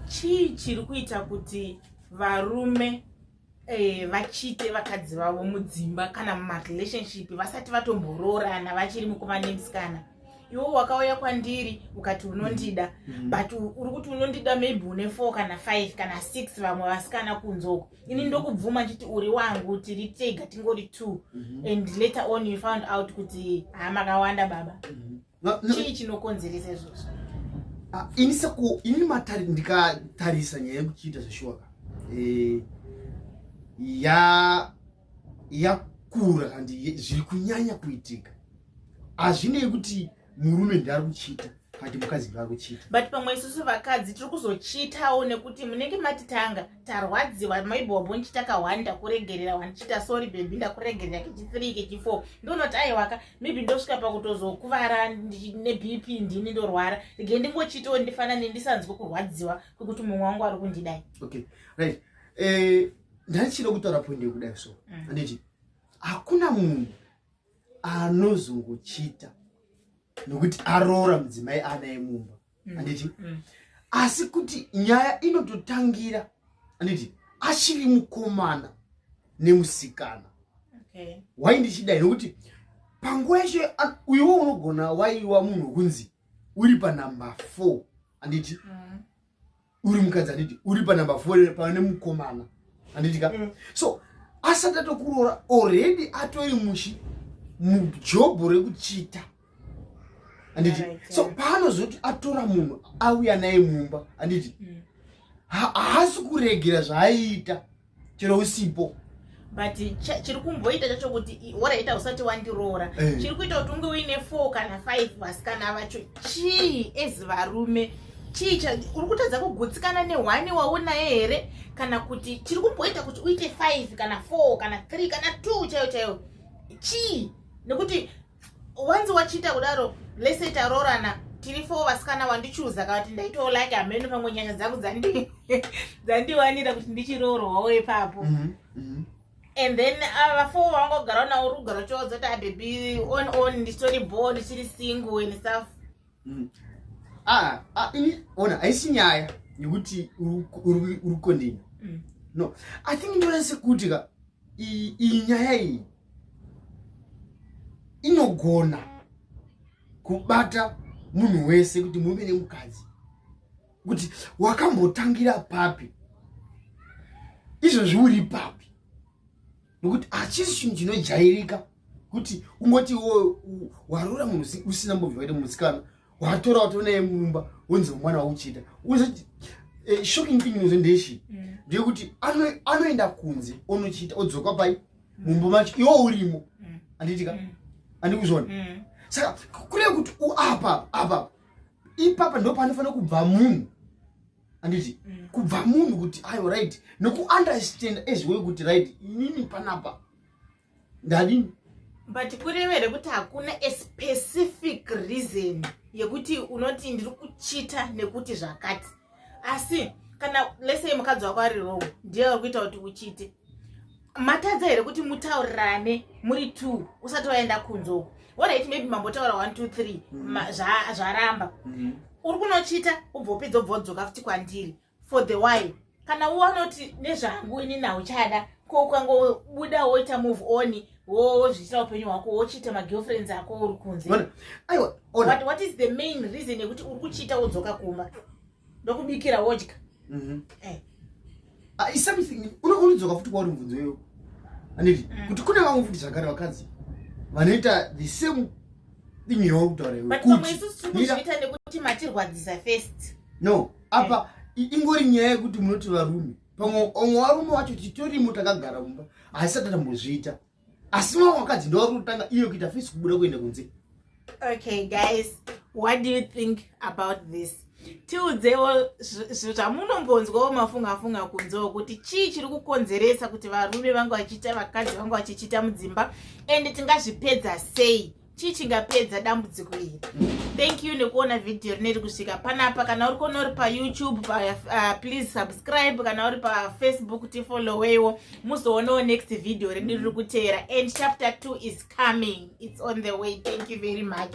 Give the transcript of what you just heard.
chii chiri kuita kuti varume eh, vachite vakadzi vavo mudzimba kana mumarelationship vasati vatomboroorana vachiri mukomana nemusikana iwe wakauya kwandiri ukati unondida mm -hmm. but uri kuti unondida maybe une four kana five kana six vamwe vasikana kunzoko ini mhm. ndokubvuma chiti uri wangu tiri tega tingori two mm -hmm. and later on you found out kuti hamakawanda baba mm -hmm. chii chinokonzeresa izvozvo ah, ini seku ini matari ndikatarisa nyaya yekuchiita zveshuwaka eh, ya yakura and zviri kunyanya kuitika hazvinei kuti murume ndiari kuchiita kati mukadzi ndiari kuchiita but pamwe isusu vakadzi tiri kuzochiitawo nekuti munenge matitanga tarwadziwa maybe wabonchi takahwani ndakuregerera wandichiita sorry bebi ndakuregerera kechi three kechi four ndonoti aiwaka maybe ndosvika pakutozokuvara nebp ndini ndorwara rege ndingochitiwo ndifanane ndisanzwe kurwadziwa kwekuti mumwe wangu ari kundidai okay right eh, ndaichida kutaura point yekudai so mm. anditi mm. hakuna munhu anozongochita nokuti aroora mudzimai anaye mumba mm. anditi mm. asi kuti nyaya inototangira anditi achiri mukomana nemusikana okay. wai ndichidai nokuti panguva yacho uiwo unogona waiwa munhu kunzi uri panumber four anditi mm. uri mukadzi handiti uri panumber four pava nemukomana handiti ka mm. so asati atokuroora already atoi mushi mujobho rekuchita handiti so paanozoti atora munhu auya naye mumba handiti mm. haasi kuregera zvaaiita chero usipo but chiri kumboita chacho kuti oraita usati wandiroora hey. Eh. chiri kuita kuti unge uine four kana five vasikana vacho chii as varume chii uri kutadza kugutsikana nehwani waunaye here kana kuti chiri kumboita kuti uite five kana four kana three kana two chaiyo chaiyo chii nekuti wanzi wachiita kudaro lese taroorana tiri fo vasikana wandichuza kavati ndaitawo like hameno pamwe nyaya dzangu dzandiwanira kuti ndichiroorwawo ipapo mhm, mhm. and then ah, vafo vangogara nawo rugara chodzo kuti abebi ah, on on ndichitori bo ndichiri single and stuff mhm. ah, ini ona haisi nyaya yekuti uri kondini mm. no i think ndonase kuti ka iyi nyaya iyi inogona kubata munhu wese kuti murume nemukadzi kuti wakambotangira papi izvozvi uri papi nokuti hachisi chinhu chinojairika kuti ungoti wo warora munhu usina mbovhakaita musikana watora wato naye mumba wonzi mwana wauchida eh, shocking thing inozo ndeshi mm. ndeyekuti anoenda kunze onochiita odzoka pai mumba macho iwo urimo mm. andiitika mm. andikuzvona saka kureva kuti apa apa ipapa ndo panofanira kubva munhu anditi kubva munhu kuti ayo right nokuunderstand as way kuti right inini panapa ndadini but kureva here kuti hakuna a specific reason yekuti unoti ndiri kuchita nekuti zvakati asi kana lesei mukadzi wako ari rowo ndiye ari kuita kuti uchite matadza here kuti mutaurirane muri t usati waenda kunzoko orit maybe mambotaura one two three mm. zvaramba mm-hmm. uri kunochita ubvopedza ubvodzoka futi kwandiri for the wine kana wanoti nezvangu ini nauchada ko ukangobuda woita move on wozviitira upenyu hwako wochiita magirlfriends ako uri kunzewhat is the main reason yekuti uri kuchiita wodzoka kumba ndokubikira wodya mhm. eh. ah, isomething unodzoka futi kwauri mubvunzo iyoyo anditi mm. kuti kune vamwe futi zvakare vakadzi vanoita the same thing yauri kutaura iwe kuti matirwadzisa first no apa ingori nyaya yekuti munoti varume pamwe omwe varume wacho titorimo takagara mumba haisati tambozviita asi mamwe vakadzi ndovari kutanga iyo kuita fesi kubuda kuenda kunze okay guys what do you think about this tiudzewo zvamunombonzwawo mafungafunga kunzewo kuti chii chiri kukonzeresa kuti varume vanga vachiita vakadzi vanga vachichiita mudzimba and tingazvipedza sei chii chingapedza dambudziko iri thank you nekuona vhidhiyo rineri kusvika panapa kana uri kuona uri payoutube pa, uh, please subscribe kana uri pafacebook tifolloweiwo muzoonawo next vhidhiyo redu riri kuteera and chapter 2 is coming its on the way thank you very much